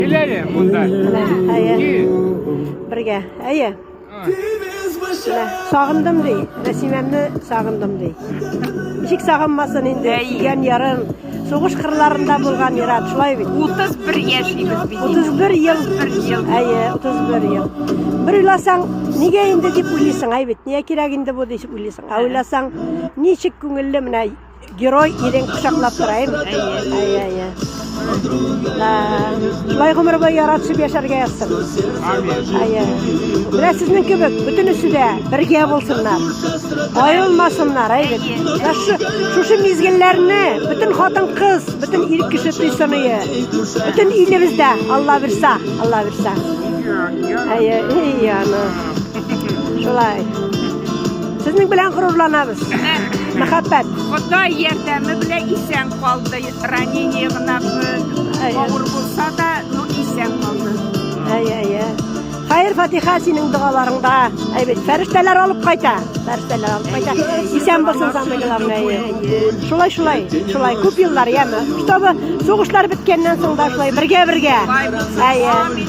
Киләле монда. Әйе. Бергә. Әйе. Сагындым ди. Рәсимәмне сагындым ди. Ничек сагынмасын инде? Дигән ярым. Сугыш кырларында булган Ират, шулай бит. 31 яшибез без. 31 ел. 31 ел. Әйе, 31 ел. Бер уйласаң, нигә инде дип уйлыйсың, әй бит. Нигә кирәк инде бу дип уйлыйсың. Ә уйласаң, ничек күңелле менә Герой илен кочаклап торайым. Әйе, әйе. Шулай гомер буе яратышып яшәргә язсын. Амин. Әйе. Менә сезнең кебек бөтенесе дә бергә булсыннар. Аерылмасыннар, әйе. Менә шу, шушы мизгелләрне бөтен хатын-кыз, бөтен ир кеше тойсыные. Бөтен илебездә Алла бирсә, Алла бирсә. Әйе, әйе, аны. Шулай. Сезнең белән горурланабыз. Мәхәббәт. Ходай ярдәме белән исән калды. Ранение гына авыр булса да, ну исән калды. Әй, әй, әй. Хәер Фатиха синең догаларыңда. Әй бит, фәрештәләр алып кайта. Фәрештәләр алып кайта. Исән булсын самый главное. Шулай, шулай, шулай күп еллар яме. Чтобы сугышлар беткәннән соң да шулай бергә-бергә. Әй, әй.